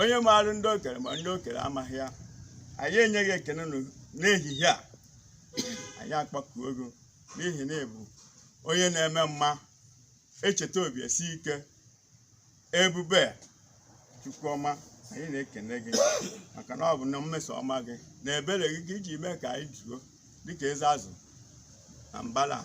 onye maara ndị o kere ma ndị o kere amaghị ya anyị enye gị ekene nụ n'ehihie a anyị akpọkuo gị n'ihi na ị bụ onye na-eme mma echeta obi esie ike ebube Chukwu ọma anyị na-ekene gị maka na ọ bụ na mmeso ọma gị na ebere gị ka i ji mee ka anyị zuo dịka eze azụ na mbala a.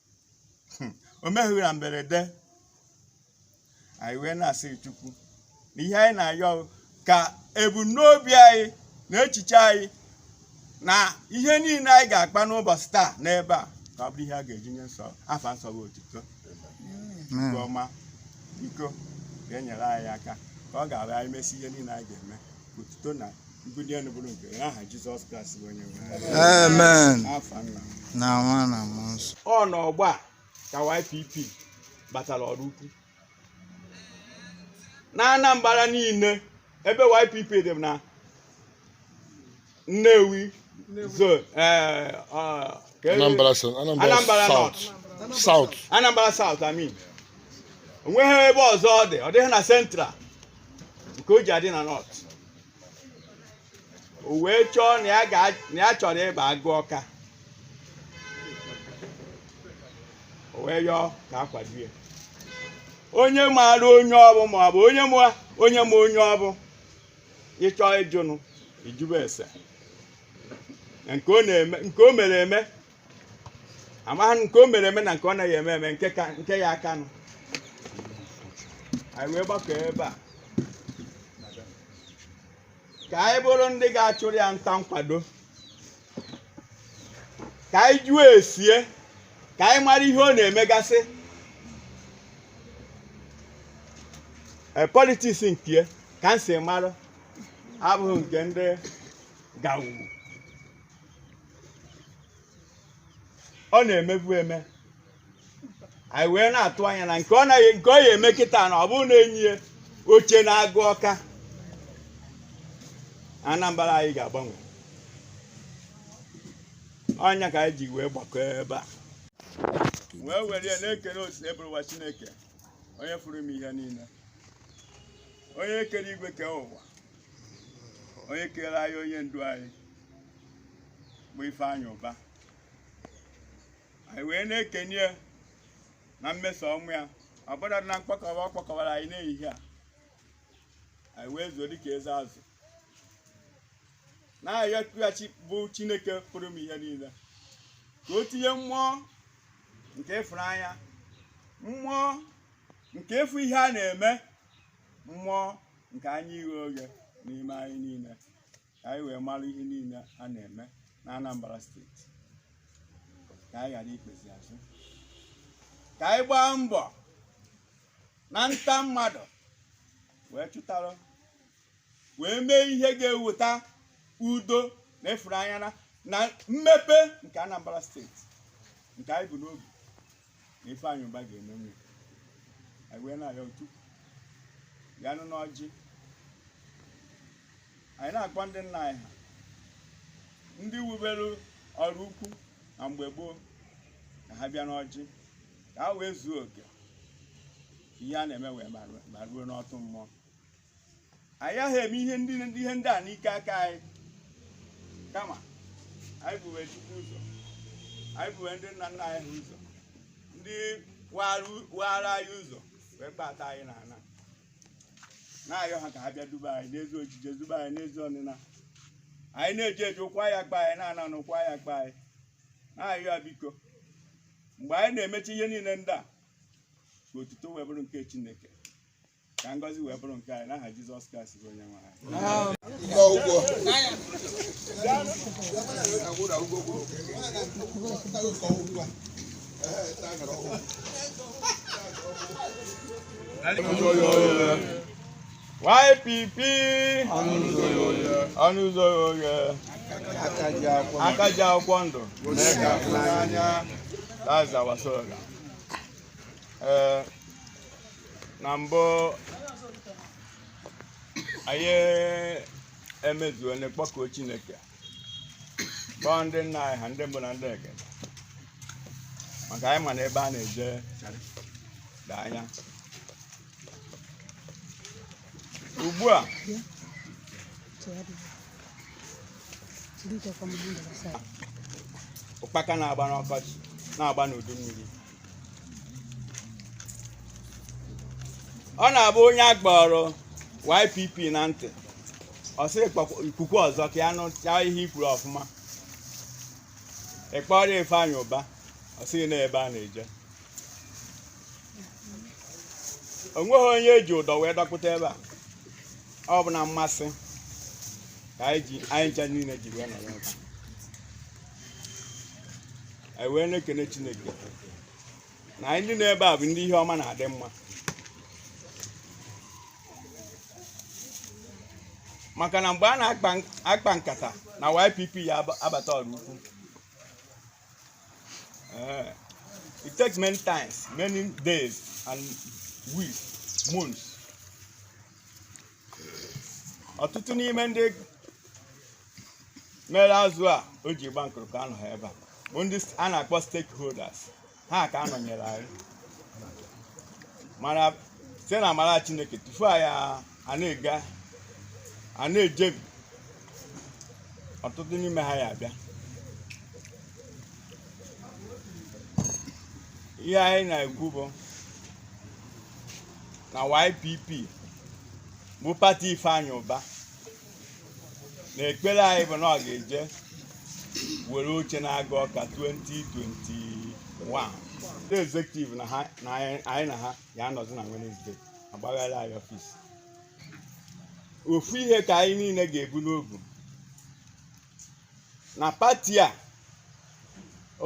o meghị na mberede anyị wee na-asị Chukwu na ihe anyị na-ayọ ka ebumnobi anyị na echiche anyị na ihe niile anyị ga-akpa n'ụbọchị taa n'ebe a ka ọ bụrụ ihe a ga-eji nye sọ afa nsọ gị otito nke ọma biko ga-enyere anyị aka ka ọ ga-abụ anyị mesịa ihe niile anyị ga-eme otito na Amen. na nwa na mmụọ nsọ ọ na ọgba a ka YPP batara ọrụ ukwu na Anambra niile ebe YPP dị na Nnewi zone eh, ọ- ka e- Anambra South. Anambra Anambra South. South. Anambra South I mean o nweghị ebe ọzọ ọ dị ọ dịghị na Central nke o ji adị na North o wee chọọ na ya ga- na ya chọrọ ịba Agụ Ọka o wee yọọ ka a kwado ya onye maara onye ọ bụ ma ọ bụ onye ma onye ma onye ọ bụ ịchọ ịjụnụ ịjụbe ese na nke ọ na-eme nke o mere eme amaghị m nke o mere eme na nke ọ naghị eme eme nke ka nke ya aka nụ anyị wee gbakọ ebe a ka anyị bụrụ ndị ga-achụrụ ya nta nkwado ka anyị jụọ esie ka anyị mara ihe ọ na-emegasị e politiks nke ya ka m si mara abụghị nke ndị gawu ọ na-emebu eme anyị wee na-atụ anya na nke ọ naghị nke ọ ya-eme kịta na ọ bụrụ na e nye ya oche n'Agụ Ọka Anambra anyị ga-agbanwe ọ nya ka anyị ji wee gbakọọ ebe a wee were ya na-ekele Osebụrụwa Chineke onye fụrụ ime ihe niile onye kere igwe kee ụwa onye kere anyị onye ndu anyị bụ Ifeanyị Ụba anyị wee na-ekene ya na mmeso ọma ya ọbụladị na mkpọkọwa ọ kpọkọwara anyị n'ehihie a anyị wee zuo dịka eze azụ na-arịọ kpughachi bụ Chineke pụrụ ime ihe niile ka o tinye mmụọ nke ịfụnanya mmụọ nke ịfụ ihe a na-eme mmụọ nke anya ighe oghe n'ime anyị niile ka anyị wee mara ihe niile a na-eme na Anambra steeti ka anyị ghara ikpezi azụ ka anyị gbaa mbọ na nta mmadụ wee chụtara wee mee ihe ga-eweta udo na ịfụnanya na mmepe nke Anambra steeti nke anyị bu n'obi na Ifeanyị Ụba ga-emenwe anyị wee na-arịọ chukwu ya nọ n'ọjị anyị na-akpọ ndị nna anyị ha ndị wubere Ọraukwu na mgbe gboo ka ha bịa n'ọjị ka ha wee zuo oke ihe a na-eme wee ma ruo n'otu mmụọ anyị aha eme ihe ndị ndị ihe ndị a n'ike aka anyị kama anyị buwe chukwu ụzọ anyị buwe ndị nna nna anyị ha ụzọ ndị waru- waara anyị ụzọ wee kpata anyị na ana na-ayọ ha ka ha bịa duba anyị n'ezi ojije duba anyị n'ezi ọnịna anyị na-eje eje ụkwụ ya akpa anyị na-ana ana ụkwụ ya akpa anyị na-ayọ ya biko mgbe anyị na-emechi ihe niile ndị a ka otuto wee bụrụ nke chineke ka ngọzi wee bụrụ nke anyị n'aha Jizọs Kraịst bụ onye nwe anyị YPP ọnụ ụzọ oghe aka ji akwụkwọ ndụ that's our slogan ee eh, na mbụ anyị emezuona kpọkuo chineke kpọọ ndị nna anyị ha ndị mbụ na ndị egede maka anyị ma na ebe a na-eje dị anya ugbu a ụkpaka na-agba n'ọkọchị na-agba n'udu mmiri ọ na-abụ onye a kpọrọ YPP na ntị ọ sị "Kpọkwa- i kwukwe ọzọ ka ya nụcha ihe i kwuru ọfụma ị kpọrọ Ifeanyị Ụba ọ sị gị na ebe a na-eje o nweghị onye e ji ụdọ wee dọkpụta ebe a ọ bụ na mmasị ka anyị ji anyị ncha niile ji wee nọrọ ebe a. anyị wee na-ekene chineke na anyị ndị nọ ebe a bụ ndị ihe ọma na-adị mma maka na mgbe a na-akpa akpa nkata na YPP ya aba- abata Ọraukwu Eh, it takes many times many days and weeks months ọtụtụ n'ime ndị mere azụ a o ji gba nkụrụ ka anọha ebe a bụ ndị a na-akpọ stakeholders ha ka anọnyere anyị mana site na amara chineke tupu anyị a- a na-ega a na-ejebi ọtụtụ n'ime ha ya abịa ihe anyị na-ekwu bụ na YPP bụ pati Ifeanyị Ụba na ekpere anyị bụ na ọ ga-eje were oche n'Agụ Ọka 2021 ndị executive na ha na anyị anyị na ha ya anọzi na Wednesday agbaghara anyị ọfis ofu ihe ka anyị niile ga-ebu n'obu na pati a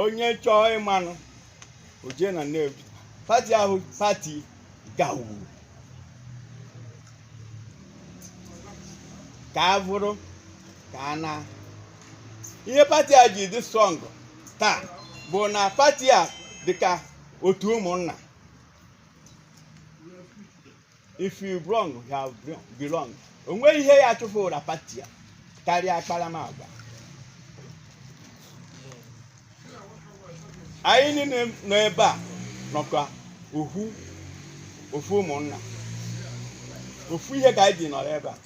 onye chọọ ịmanụ o je na Nnewi pati ahụ pati gawu ka a bụrụ ka a na ihe pati a ji dị strong taa bụ na pati a dịka otu ụmụnna if you belong you have belong o nweghị ihe ya chụfụra pati a karịa akparamagwa anyị niile nọ ebe a nọkwa ohu ofu ụmụnna ofu ihe ka anyị ji nọrọ ebe a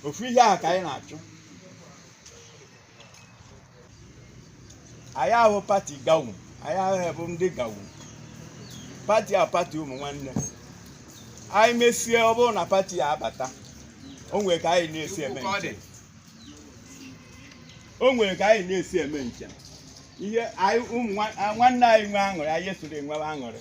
ofu ihe ahụ ka anyị na-achụ anyị ahụ pati gawu anyị ahụ bụ ndị gawu pati a pati ụmụ nwanne anyị mesie ọ bụrụ na pati a abata o nwere ka anyị na-esi eme njem o nwere ka anyị na-esi eme njem ihe anyị ụmụ nwa- a- nwanne anyị nwe aṅụrị anyị esoro e nwee aṅụrị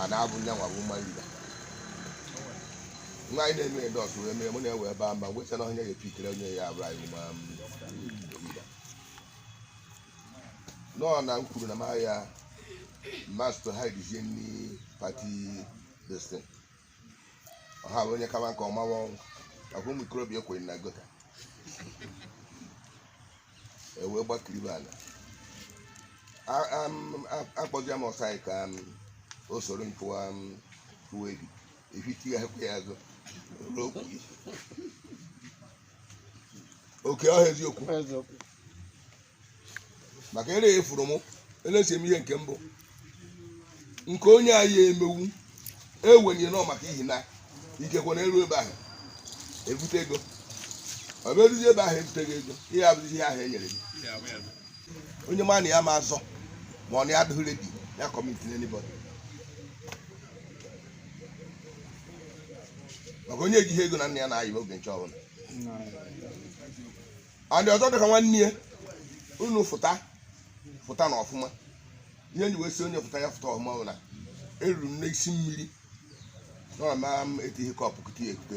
a na-abụ nya nwa bụ woman leader nwa anyị na-eme dọs wee mee mụ na-ewe ebe a mba ngwecha na onye ga-epikere onye ya abụrụ anyị ma nọọ na m kwuru na m ahịa master ha dizie nni party destin ọha bụ onye kama nke ọma ọnwụ maka ụmụ ikorobịa ekwenye na gota ewee gbakiri ala akpọzia m ọsa ka o soro nkụwa uwe gị ehiti ya ekwe ya azụ n'okwu oke ọha eziokwu maka ere efuru m elesi m ihe nke mbụ nke onye anyị emewu ewenye nọ maka ihi na ikekwe na eru ebe ahụ ebute ego ọ bụ eruzi ebe ahụ ebuteghị ego ihe abụzi ihe ahụ e nyere gị onye ma na ya ma azọ ma ọ na ya adịghị ready ya kọmiti anybody maka onye ejighị ego na nna ya na-ayị oge nche ọbụla and so dịka nwanne ya unu fụta fụtanụ ọfụma ihe m ji wee sị onye fụta ya fụta ọfụma bụ na eruru m n'isi mmiri nọ na m etinye kọpụ kute ya ekute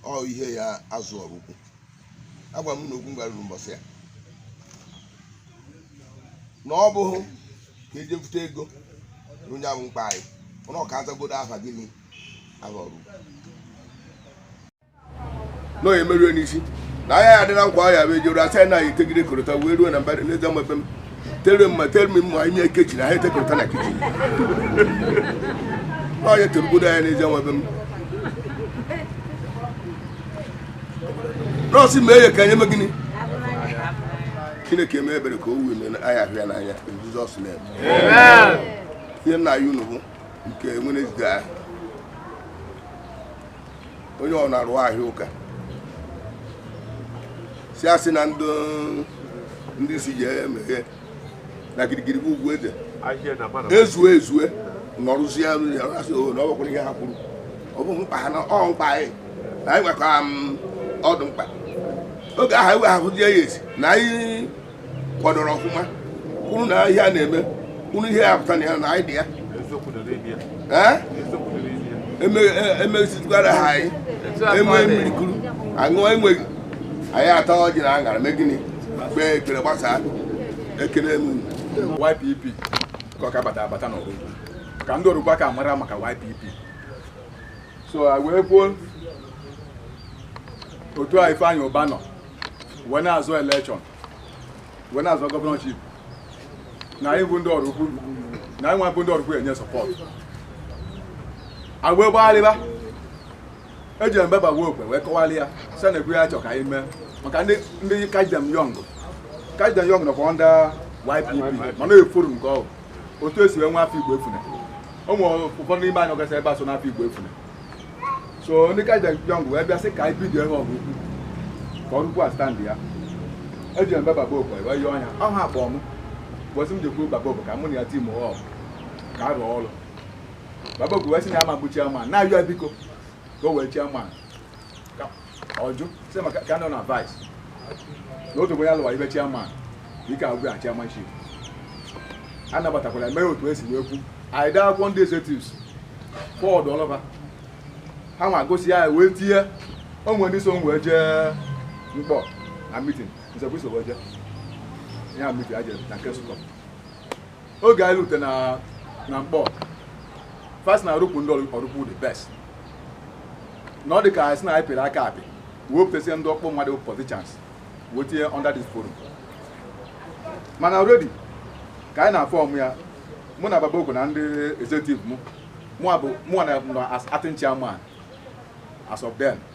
ọ ihe ya azụ Oraukwu agwa m na okwu m gara ruru mbọsị ya na ọ bụghị ka eje bute ego na onye ahụ mkpa anyị mana ọ ka azagodo aha gịnị aha Oraukwu na onye merue n'isi na anya ya adị na nkwa ya bụ ejere asa ya na ya etegide korota wee ruo na mba n'eze mebe m tere mma tere m mma ime kechi na ha etekorota na kichin na onye terugodo anya n'eze nwebe m nọọsụ mee ya ka anyị eme gịnị chineke mee ebere ka o wee mee anyị ahụ ya n'anya in Jesus name ihe m na-ayọ unu bụ nke Wednesday ahụ onye ọ na-arụ ahịa ụka si asị na ndị ndị si ji emeghe na girigiri bụ ugwu eze ezue ezue nọrụzie ya asị o na ọ bụkwara ihe ha kwuru ọ bụ mkpa ha na ọ mkpa anyị na anyị nwekwa ọdụ mkpa oge ahụ ewe ahụzie ya esi na anyị kwadoro ọfụma kwuru na ihe a na-eme kwuru ihe ya pụta na ya na anyị dị ya emezitụgara e, e ha anyị enwe mmiri kuru aṅụ enweghị anyị ata ọjị na aṅara mee gịnị kpee ekpere gbasaa ekele m YPP ka ọ ka bata abata n'Oraukwu ka ndị Oraukwu ka mara maka YPP so wee kwuo otu a Ifeanyi Uba nọ wee na-azọ election wee na-azọ governorship na anyị bụ ndị Ọraukwu na anyị nwa bụ ndị Ọraukwu enye support agwa gbagharịba eje m be baba obo wee kọwara ya sị nekwa ihe a chọ ka anyị mee maka ndị ndị kajdem yọng kajdem yọng nọkwa ndị YPP mana efuru nke ọgụ otu esi wee nwa afọ igbo efune ụmụ ụfọdụ n'ime anyị ọgasị ebe a so n'afọ igbo efune so ndị ka jọng wee bịa sị ka anyị bido ya Ọraukwu ka Ọraukwu standịa eje m be baba obo wee yọọ ya ọ ha akpọ m ọ sị m jekwuru baba obo ka mụ na ya team up ka a rụọ ọrụ baba obo wee sị na ya ama bụ chairman na-ayọ ya biko ka o wee chairman ọ jụ sị maka ka nọ na vice na otu onye alụwa ife chairman ike agwụ ya chairmanship a nabatakwara mee otu esi wee kwu anyị daa akwụkwọ ndị executives ụfọdụ ọlọba ha nwa gosi ya wee tinye o nwere ndị so m wee jee Nkpọ na meeting m sokwa iso wee jee ya meeting a jere na nke sụkọ oge anyị rute na na Nkpọ fa sị na Ọraukwu ndị Ọraukwu the best na ọ dị ka sị na anyị pịrị aka apị wepụtasịa ndị ọkpọ mmadụ politicians wee tinye under this forum mana already ka anyị na-aform ya mụ na baba okwu na ndị executive mụ mụnwa as acting chairman as of then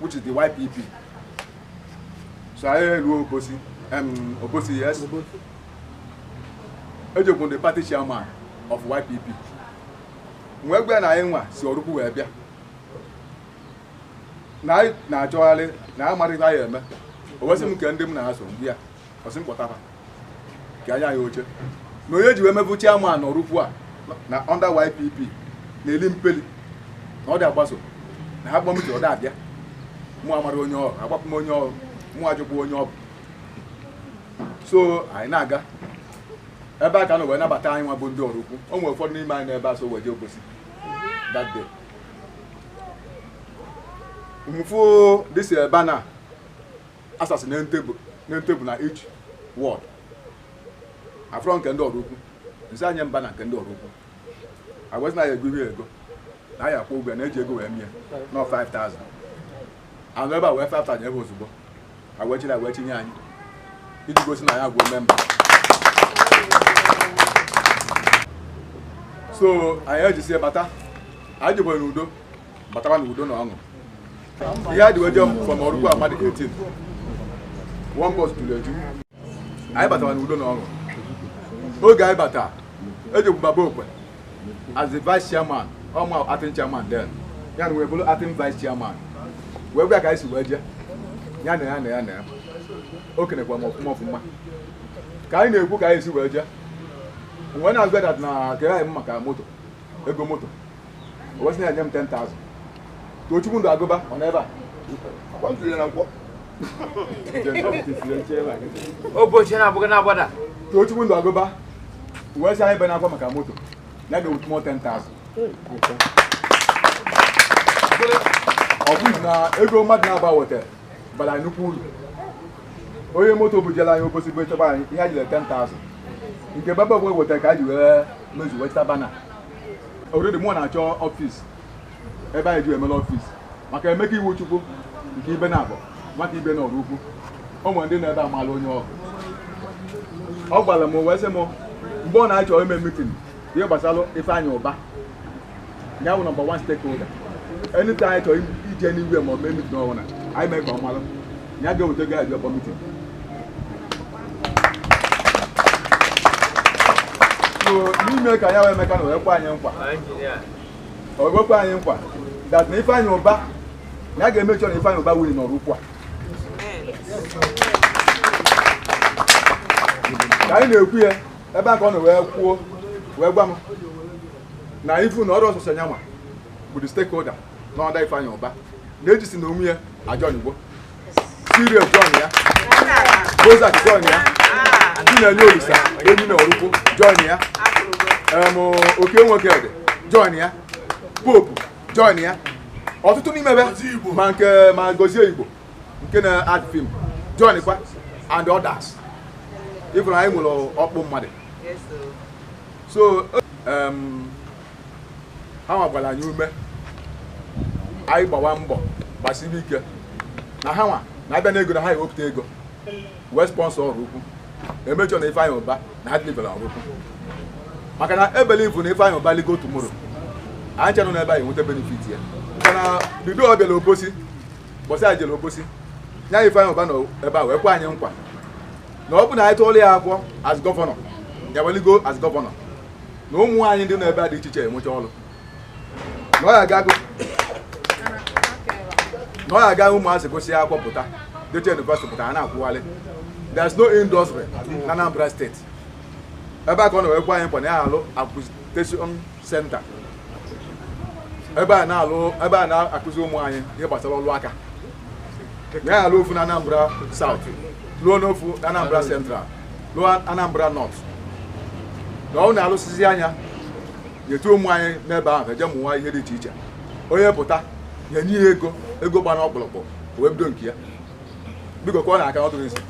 which is the YPP so anyị eruo Obosi Obosi yes e jekwu the party chairman of YPP wee gwa ya na anyị nwa si Ọraukwu wee bịa na anyị na-achọgharị na amaghị ihe anyị eme o wee sị m kee ndị m na ha so bịa ọ sị m kpọta fa ka anya ya oche na onye ji wee mebụ chairman n'Ọraukwu a na under YPP na eli mpeli na ọ dị agbaso na a kpọ meeting ọ da abịa mụ amarọ onye ọ bụ agbapụ m onye ọ bụ mụ ajụkwa onye ọ bụ so anyị na-aga ebe a ka a nọ wee nabata anyị nwa bụ ndị Ọraukwu o nwere ụfọdụ n'ime anyị n'ebe a so wee jee Obosi that day m fụ this eh, banner a sasị na table na table na each ward afụrọ nke ndị Ọraukwu m sị ha nye m banner nke ndị Ọraukwu a wee sị na a ya-ego ya ego na a ya-akwụ ụgwọ na e ji ego wee mee ya na ọ 5000 a nọ ebe a wee 5000 ebe ozugbo a wee chịrị a wee chịnye anyị iji gosi na anyị abụgo member so anyị ejisie bata anyị jikwere n'udo bataba na udo na ọṅụ ihe a dị wee je from oraukwu mmadụ 18 one bus juru eju anyị batara na udo na ọṅụ oge anyị bata e jekwu baba okwe as the vice chairman ọma acting chairman then ya na wee bụrụ acting vice chairman wee gwa ka anyị si wee jee ya na o kenekwa m ọfụma ọfụma ka anyị na-ekwu ka anyị si wee jee mgbe na-agwa that na kere anyị maka moto ego moto o wee sị na-enye m 10,000 tochukwu nduaguba ọ nọ ebe a akwa ntụrụ ya na nkwọ ụbọchị na-abụghị na-agbada tochukwu nduaguba wee sị anyị ebena akwa maka moto ya ga-ewete mụ 10,000 ọ bụghị na ego mmadụ naabọ wetara bara anyị nnukwu uru onye moto bujela anyị obosi bụ echebe anyị ihe a jire 10,000 nke baba okwe wetara ka a ji wee mezuwe chita bana already mụ na-achọ office ebe anyị ji emela office maka emeka iwuchukwu nke ibenabo maka ibe na oraukwu o nwere ndị nọ ebe a maala onye ọgụ ọ gwara m wee sị m mgbe ọ na-achọ ime meeting ihe gbasara ifeanyị ụba ya bụ number one stakeholder anytime anyị chọrọ ije nnewi ma ọ mee meeting ọbụla anyị mee ka ọ malụ ya ga-eweta gị abịa kpọ meeting n'ime ka ya wee emeka na wee kwe anyị nkwa o wee kwe anyị nkwa that na ifeanyị ụba na ya ga-eme sure na ifeanyị ụba winiri n'oraukwu a ka anyị na-ekwu ya ebe a ka ọ nọ wee kwuo wee gwa m na ịfụ na oraukwu sọsọ nya nwa bụ the stakeholder under ifeanyị ụba na-ejisi na onwe ya ajọnigbo serious join ya bozak join ya ndị na-enye olisa enyi na oraukwu join ya em, oke nwoke dị join ya pope join ya ọtụtụ n'ime ebe ma nke ma gozie igbo nke na-act film joinkwa and others ị fụrụ anyị nwere ọkpụ mmadụ so em, ha gbakwara anyị ume anyị gbawa mbọ gbasiri ike na ha nwa na-abịa n'ego na ha ewepụta ego wee sponsor oraukwu e mee sure na Ifeanyi Uba na ha deliver oraukwu maka na e believe na Ifeanyi Uba ligoo tomorrow anyị chenụ n'ebe anyị nweta benefit ya maka na bido ọ bịara obosi mbọsị anyị jere obosi nya Ifeanyi Uba nọ ebe a wee kwe anyị nkwa na ọ bụ na anyị tụọla ya akwụkwọ as governor ya wee ligo as governor na ụmụ anyị ndị nọ ebe a dị iche iche enwecha ọrụ na ọ ya aga agụ- na ọ ya aga ụmụazị gụsịa akwụkwọ pụta jecha yunivasịtị pụta ha na-akwụgharị there is no industry na Anambra steeti ebe a ka ọ na-ekwekwa anyị nkwa na ya alụ acquisition center ebe a na-alụ ebe a na-akụzi ụmụ anyị ihe gbasara ọrụ aka na ya alụ ofu na Anambra South lụọ n'ofu na Anambra Central lụọ Anambra North na ọ na-alụsịzia nya nyetu ụmụ anyị n'ebe ahụ eje mụwa ihe dị iche iche onye pụta e nye ya ego ego gba n'ọkpụrụkpụ o wee bido nke ya biko ka ọ na-aka ọ dụrụ isi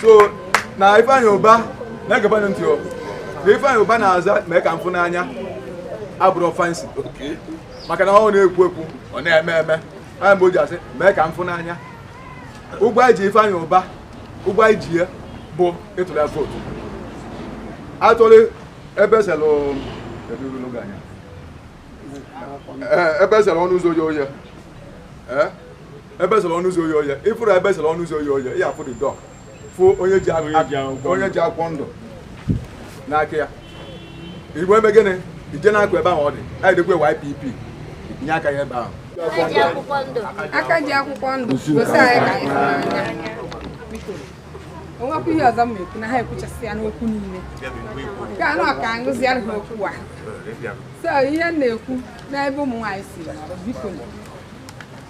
so na Ifeanyi Uba na-egebanụ ntị na Ifeanyi Uba na-aza mee ka m fụ n'anya abụrọ fancy maka na ọ na-ekwu ekwu ọ na-eme eme nya mere e ji asị mee ka m fụ n'anya ụgwọ anyị ji Ifeanyi Ụba ụgwọ anyị ji ya bụ ịtụrụ ya vootu atụrụ ebe e selụ ebe e selụ ọnụ ụzọ oye oye ebe e selụ ọnụ ụzọ oye oye ị fụrụ ebe e selụ ọnụ ụzọ oye oye ya afụ the door fụ onye ji akwụkwọ ndụ n'aka ya ị ga-eme gịnị ije na-akụ ebe ahụ ọ dị anyị dịkwa YPP nye aka ya ebe ahụ aka ji akwụkwọ ndụ gosi anyị ka anyị n'anya o nwekwa ihe ọzọ m ekwu na ha ekwuchasị ya n'okwu niile nke anọ ka aṅụziara ha okwu a so ihe m na-ekwu n'ebe ụmụ nwaanyị si biko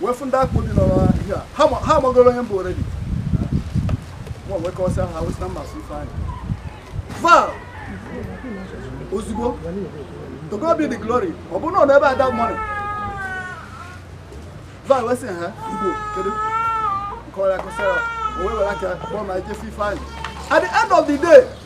wee fụ ndị akpụ dị n'ọrụ ihe a ha ma- ha amagoro onye m bụ already mụnwa wee kọsịa ha wee sị na mmasị Ifeanyi Val Ozigbo to God be the glory ọ bụrụ na ọ nọ ebe a that morning Val wee sị ha Igbo kedu nkọrọ ya kọsịa ya o wee were aka kpọọ ma ejefe Ifeanyi at the end of the day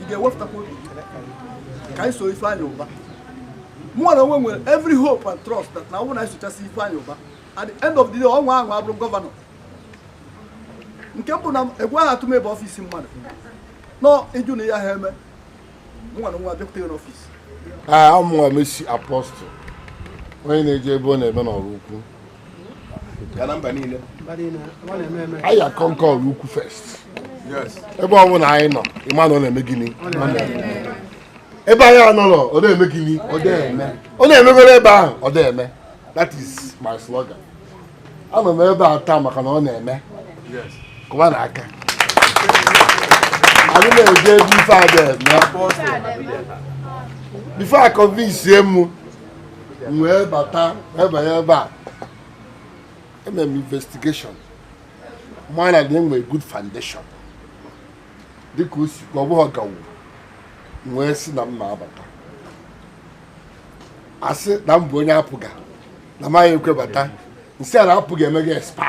ị ga-ewepụtakwa obi ka anyị so Ifeanyi Uba mụnwa na onwe m nwere every hope and trust that na ọ bụrụ na anyị sochasị Ifeanyi Uba at the end of the day o wee bụrụ gọvanọ nke mbụ na egwu aha atụ m ịba ọfisi mmadụ nọ ịjụ na ya ha eme mụnwa na nwa abịakwute ya n'ọfis amụnwa Mercy Apostle onye na-eje ebe ọ na-eme n'Oraukwu anyị a-conquer Oraukwu first ebe ọ bụla anyị nọ ịma na ọ na-eme gịnị ebe anyị anọrọ ọ na-eme gịnị ọ na-emegoro ebe ahụ ọ na-eme that is my slogan anọ m ebe a taa maka na ọ na-eme kụwanụ aka anyị na-eje ebe ife a ga-eme before a convince m m wee bata wee banye ebe a eme m investigation mara na enwere good foundation dịka o si ọ bụghị gawu m wee sị na m na-abata asị na m bụ onye APGA na m ayị ekwe bata m sị ha na APGA emego expire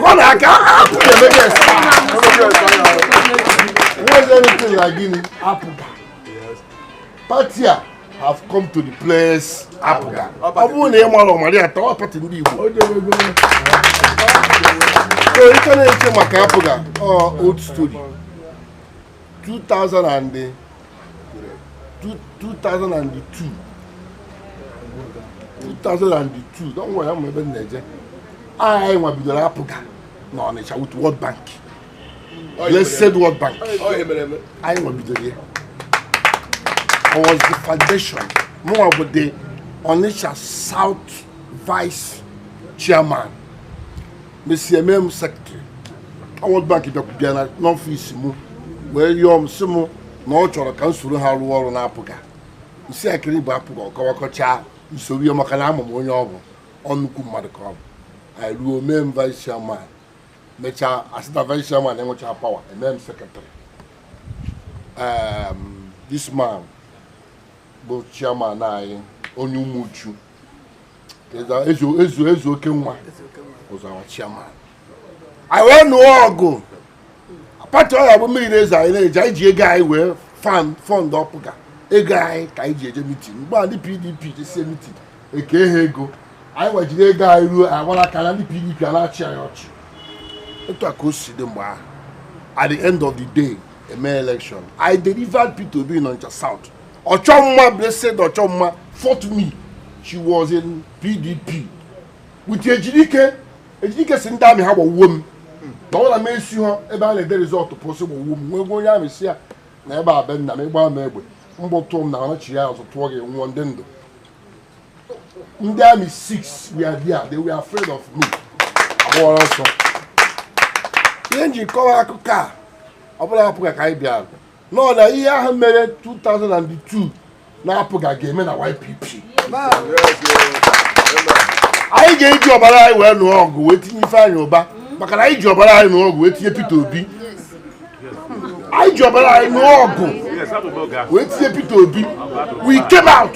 ọ na-aka APGA emego expire enwezi anything like gịnị APGA pati a have come to replace APGA ọ bụrụ na ị marọ mara ya taa ọ pati ndị Igbo so ị ka na-eche maka APGA ọ old story 2002 2002 don't worry ama ebe m na-eje anyị nwa bidoro APGA n'Ọnịcha with World Bank blessed World Bank anyị nwa bidoro ya I was the foundation mụnwa bụ the Onitsha South Vice Chairman mesie mee m secretary World Bank bịara n'ọfịs m wee yọọ m sị m na ọ chọrọ ka m soro ha rụọ ọrụ n'APGA m sị ya gịnị bụ APGA ọ kọwakọchaa m sowe ya maka na ama m onye ọ bụ ọ nnukwu mmadụ ka ọ bụ anyị ruo mee m vice chairman mechaa asịta vice chairman enwecha power e mee m secretary ehm, this man bụ chairman anyị onye Umuchu Eze Ezeokenwa was our chairman anyị wee nụọ ọgụ pati ọ ya bụ mmiri na-ezo anyị na-eji anyị ji ego anyị wee fan fund APGA ego anyị ka anyị ji eje meeting mgbe a ndị PDP jesie meeting e kee ha ego anyịnwa ejiri ego anyị ruo anyị agbara aka naa ndị PDP a na-achị anyị ọchị otu a ka o si dị mgbe ahụ at the end of the day eme election I delivered Peter Obi n'Ọnịcha South Ochomma blessed Ochomma fought me. She was in PDP. With Ejidike, Ejidike sị ndị army ha gbawuo m. Na ọ na m esi ha ebe a na-ede result pụ sị gbawuo m. M wee gwa onye army sị ya na ebe a be nna m ị gbaa m egbe. Mgbọ tụọ m na ọ nachigha azụ tụọ gị ị nwụọ m dị ndụ. Ndị army six were there. They were afraid of me. Ha gbawara ọsọ. Ihe m ji kọwa akụkọ a ọ bụ na APGA ka anyị bịara. nọ na ihe ahụ mere 2002 n'APGA ga-eme na YPP anyị ga-eji ọbara anyị wee nụọ ọgụ wee tinye Ifeanyi Ubah maka na anyị ji ọbara anyị nụọ ọgụ wee tinye Peter Obi anyị ji ọbara anyị nụọ ọgụ wee tinye Peter Obi we came out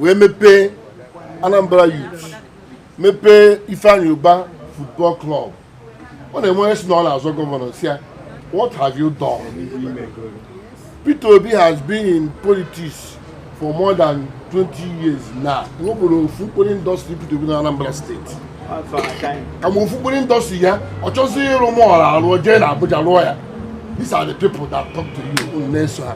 wee mepee Anambra Youth mepee Ifeanyi Uba football club ọ na-enwe onye sị na ọ na-azọ gọvanọ sị ya what have you done Peter Obi has been in politics for more than 20 years now nwebụrụ ofu mkpụrụ industry Peter Obi na Anambra steeti kama ofu mkpụrụ industry ya ọ chọzi ịrụ mall arụ jee na Abuja rụọ ya these are the people that talk to you unu na-eso ha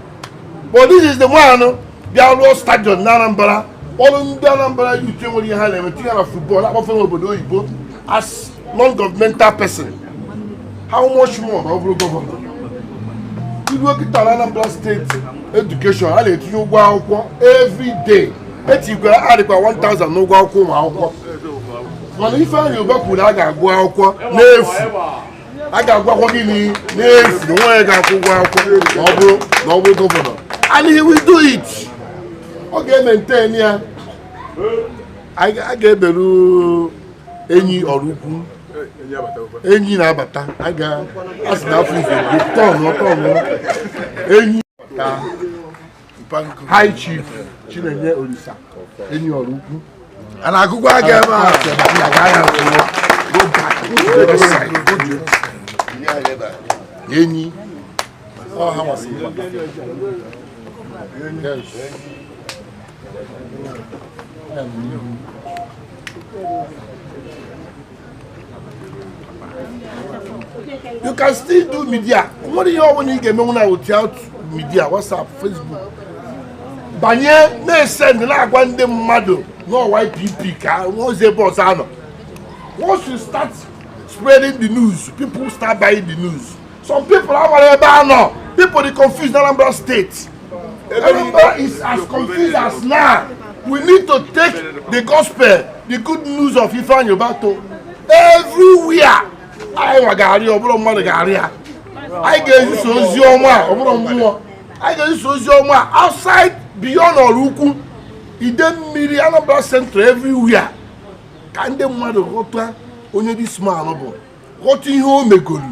but this is the one bịa rụọ stadium na Anambra ọrụ ndị Anambra youth nwere ihe ha na-eme tinye na football akpọfe n'obodo oyibo as non-governmental person how much more na ọ bụrụ gọvanọ i luo kịta na Anambra steeti education a na-etinye ụgwọ akwụkwọ every day etikwara adịkwa 1000 n'ụgwọ akwụkwọ ụmụ akwụkwọ mana Ifeanyi Uba kwuru a ga-agụ akwụkwọ n'efu a ga-agụ akwụkwọ gịnị n'efu na o nweghị onye ga-akwụ ụgwọ akwụkwọ ma ọ bụrụ na ọ bụrụ gọvanọ and he will do it ọ ga-emaintain ya a ga-ebelu enyi Oraukwu enyi na-abata a ga-asị na afọ ife tọnụ tọnụ enyi High Chief Chinenye Olisa enyi Oraukwu a na-agụkwa aga ebe a enyi Yes. you can still do media o nwere ihe ọbụla ị ga-emenwu now without media whatsapp facebook banye na-esend na-agwa ndị mmadụ na YPP ka ozi ebe ọzọ a nọ once you start spreading the news people start buying the news Some people amarọ ebe a nọ. People are confused Anambra State. Anambra is as confused as now. We need to take the gospel, the good news of Ifeanyi Uba to everywhere. Anyị nwa ga-arị ọ bụrụ mmadụ ga-arị ya. Anyị ga-ezisa ozi ọma a ọ bụrụ mmụọ. Anyị ga-ezisa ozi ọma a outside beyond Oraukwu. Idemili Anambra Central everywhere. Ka ndị mmadụ ghọta onye dis man bụ. ghọta ihe o megoro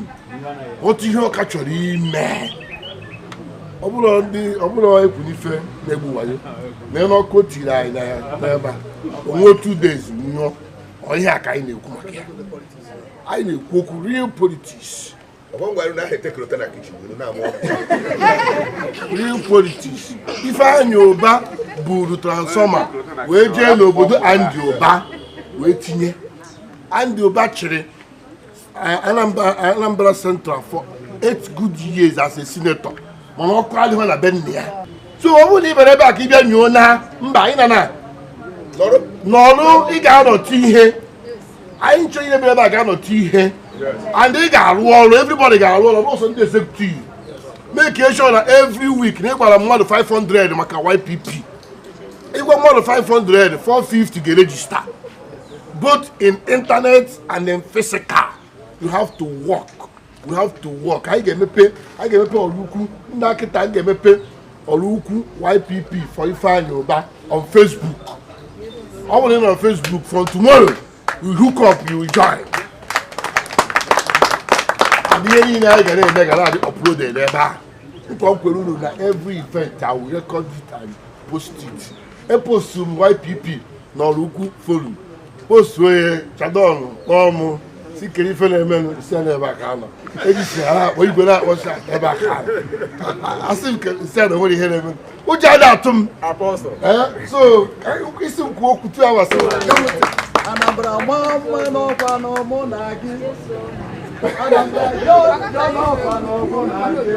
ghọta ihe ọ ka chọrọ ime ọ bụrụ ndị ọ bụrọ ekwu na Ifeanyi bụ wayo na elu ọkụ o tiri anyị na ya n'ebe a o nwuo two days nyụọ ọ ihe a ka anyị na-ekwu maka ya anyị na-ekwu okwu real politics real politics Ifeanyi Uba buru transformer wee jee n'obodo Andy Uba wee tinye Andy Uba chịrị uh, Anambra Anambra Central for eight good years as a senator mana ọkụ adịghị na be nna ya so ọ bụrụ na ị bịara ebe a ka ị bịa nyoo na mba anyị na na n'ọrụ ị ga-anọtụ ihe anyị nchọ ihe bịara ebe a ga-anọtụ ihe and ị ga-arụ ọrụ everybody ga-arụ ọrụ also ndị executive make sure na every week na ị gwara mmadụ 500 maka YPP ịgwa mmadụ 500 450 ga-erejista both in internet and in physical you have to work we have to work anyị ga-emepe anyị ga-emepe Oraukwu na kịta anyị ga-emepe Oraukwu YPP for Ifeanyi Uba on Facebook ọ bụrụ na Facebook from tomorrow you hook up you join ihe niile anyị ga na-eme ga na-adị uploaded ebe a nkwa m kwere unu na every event I will record it and post it eposturu m YPP na Oraukwu forum postuo ya Chadon kpọọ mụ sị kedụ ife na-emenụ sị ya n'ebe a ka anọ ejisi ha na-akpọ igwe na-akpọcha ebe a ka anọ asị m ka si ya na nwere ihe na-eme ụjọ a na-atụ m Eh, so ka- isi m kwuo okwu two hours sị Anambra maa mma n'ọ kwanụ mụ na gị. Anambra jọọ njọ n'ọ kwanụ mụ na gị.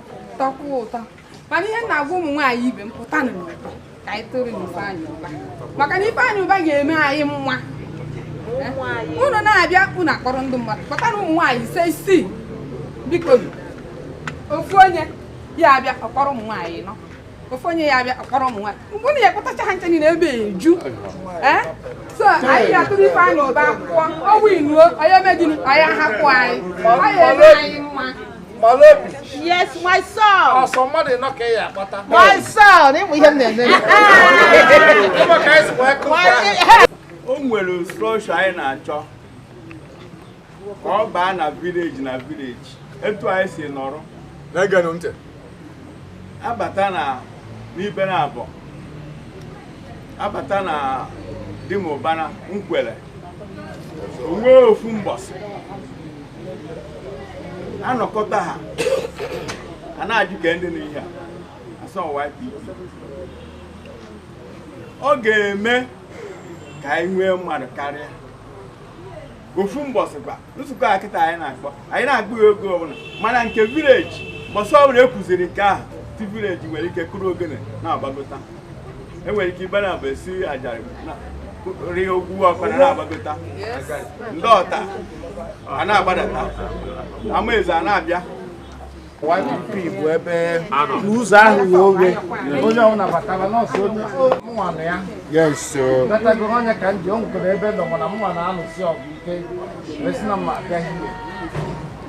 tọkwuo ụtọ mana ihe na-agwa ụmụ nwaanyị ibe m pụtanụ n'ụba ka anyị tụọrọnụ Ifeanyị Uba maka na Ifeanyị Uba ga-eme anyị mma unu na-abịa unu akpọrọ ndị mmadụ pụta na ụmụ nwaanyị ise isii biko ofu onye ya-abịa ọ kpọrọ ụmụ nwaanyị anọ ofu onye ya-abịa ọ kpọrọ ụmụ nwaanyị mgbe unu ya-ekpọtacha ha ncha niile ebe a eju eh? so anyị ya-atụrụ Ifeanyị Uba akwụkwọ ọ winuo ọ ya-eme gịnị onye hapụ anyị ọ ya-eme anyị mma Malobi. Yes, my son. Oh, somebody knock here, yeah, but I'm My son, him we him then. Come on, guys, welcome. O nwere structure anyị na-achọ ka ọ baa na village na village etu anyị si nọrọ. Na-egenụ ntị. Abata na n'Ibenabo. Abata na Dimubana Nkwele. O nwee ofu mbọsị. anọkọta ha a na-educate ndị n'ihe a asọ YPP ọ ga-eme ka anyị nwee mmadụ karịa ofu mbọsị kwa nzukọ a kịta anyị na-akpọ anyị na-akpọ ya oge ọbụla mana nke village mbọsị ọbụla e kwuziri nke ahụ ndị village nwere ike kụrụ ogene na-agbagota enwere ike Ibenabo esi ajarị rie ogwu ọkpara na-agbagota ndị Otta a na-agbadata Amaeze a na-abịa YPP bụ ebe n'ụzọ ahụ wee oghe onye ọhụrụ nabatara nọọsụ onye mụnwa na ya batago onye ka ndị o nwekwara ebe nọ mana mụnwa na-alụsi ọgụ ike wee sị na mma abịaghị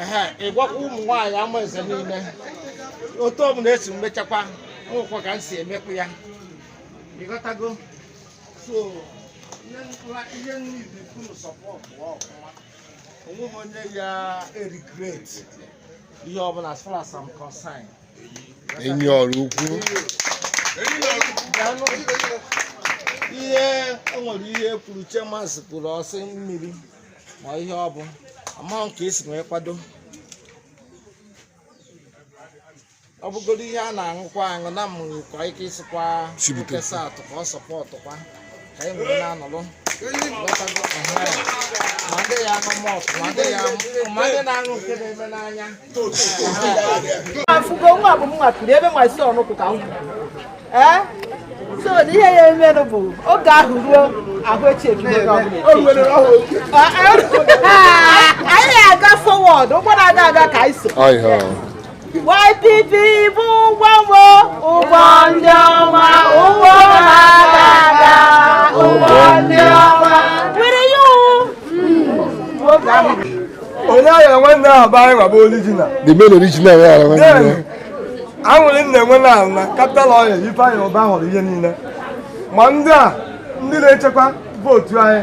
ehe ịgwakwa ụmụ nwaanyị Amaeze niile otu ọ bụla e si mechakwa nwekwa ka m si emekwa ya ịghọtago so ihe nwa- ihe niile unu sọpọtụ ọfụma onweghị onye ya e-regret ihe ọbụla as far as I'm concerned enyi Oraukwu Daalụ. ihe o nwere ihe kwuru chemasị kwuru ọ sị mmiri ma ihe ọ bụ amaghị ka e si wee kwado ọ bụgodo ihe a na-aṅụkwa aṅụ na mụ nwekwa ike isikwa si bute. nkesa atụ ka ọ sọpọtụkwa ka anyị wee na-aṅụrụ Ghọtago? Ehe. ma ndị ya aṅụ malt ma ndị ya aṅụ- ma ndị na-aṅụ nke na-eme n'anya afụgo nwa bụ mma kiri ebe nwa si ọnụkwụ ka m ee so na ihe ya emenụ bụ oge ahụ ruo ahụ echi ebido onye ọbụla eche. Ah, ah, anyị na-aga forward ụgbọ na-aga aga ka anyị so YPP bụ ụgbọ Noah ụgbọ ndị ọma ụgbọ na-aga aga ụgbọ ndị ọma were ya oge ahụ onye aghala nwanne ahụ bụ anyị nwa bụ original the main original onye aghala nwanne ya Then, aṅụrị m na-enwe na na Capital Oil Ifeanyị Ụba hụrụ ihe niile ma ndị a ndị na-echekwa vootu anyị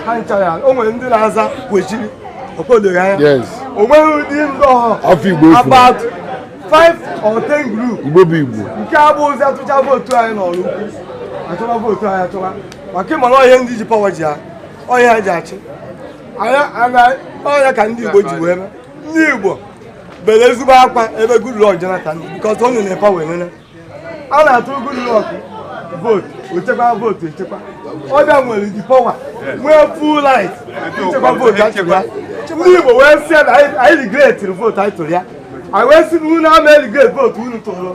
ha nchara o nwere ndị na-aza Kwechiri okpodoro anya yes o nweghị ụdị ndị ọhụrụ Afa Igbo efuna. about five or ten group Igbo bụ Igbo nke a bụ ozi a tụcha vootu anyị n'Oraukwu achọba vootu anyị achọba maka ịmara ihe ndị ji pawa ji ha ọ ya ji achị ọ ya ka ndị Igbo ji wee mee ndị Igbo bere ezigbo akwa ebe Goodluck Jonathan because ọ nọ na pawa wee nene a na-atụrụ Goodluck vootu o chekwa vootu echekwa ọ bịa nwere the power nwee full right ichekwa vootu achịkwa ndị Igbo wee sị na anyị regretiri vootu anyị tụrụ ya anyị wee sị na unu ama regret vootu unu tụrụ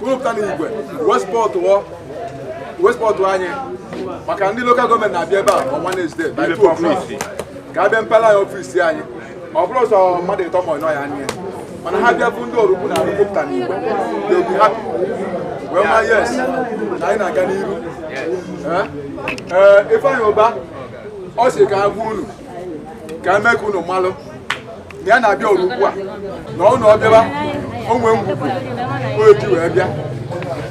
Kwupụta na igwe wee sọpọtụọ wee sọpọtụ anyị maka ndị local government na-abịa ebe a on Wednesday by 2 o'clock ka a bịa mepela anyị ọfisi anyị ọ bụrụ sọ mmadụ ịtọ ma ọ ịnọ ya anya mana ha bịa bụ ndị Oraukwu na-arụ kwupụta na igwe they will be happy wee ma yes na anyị na-aga n'iru Eh? Eh, Ifeanyi Ụba ọ sị ka ha gwa unu ka e mee ka unu malụ na ya na-abịa o rukwaa na ọ na ọ bịaba o nwe ngwugwu o ji wee bịa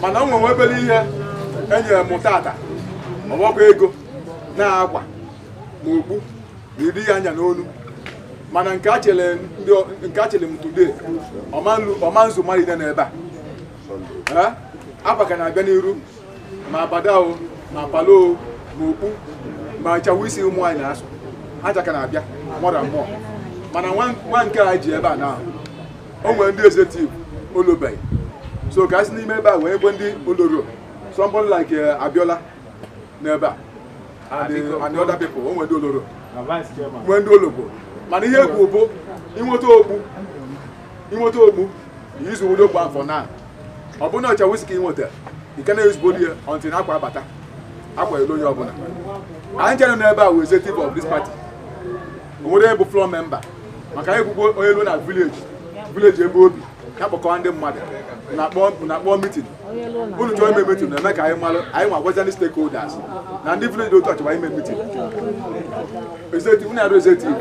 mana o nwe obere ihe e nyere m tata ọgbakọ ego na akwa na okpu na iri ya anya n'olu mana nke a chere ndị ọ- nke a chere m today ọ ma nlu- ọ ma nzu mmadụ niine n'ebe a Eh? akwa ka na-abịa n'iru ma abada o ma polo o ma okpu ma nchafu isi ụmụ nwaanyị na-asụ ha ka na-abịa more and more mana nwa- nwa nke a ji ebe a na o nwere ndị executive o lubeghị so ka a si n'ime ebe a wee gwe ndị o luro somebody like eh, Abiola n'ebe a and eh, and the other people o nwere ndị o luro nwee ndị o lugo mana ihe egwu bụ i nweta okpu i nweta okpu izu ụdị okpu afọ na ọ bụrụ na ọ chafu isi ka i nweta you cannot use body until akwa abata akwa eluo onye ọbụla anyị chere n'ebe a wee executive of this party o nwere bụ floor member maka anyị kwugo onye luo na village village ebe obi ya kpọkọwa ndị mmadụ na-akpọ mitin unu chọọ ime mitin na-eme ka anyị malụ anyị nwa gwazi ndị stakeholders na ndị village otu a chọba ime mitin unu arụ executive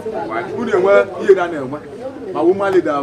unu enwe ihe na na-enwe ma woman leader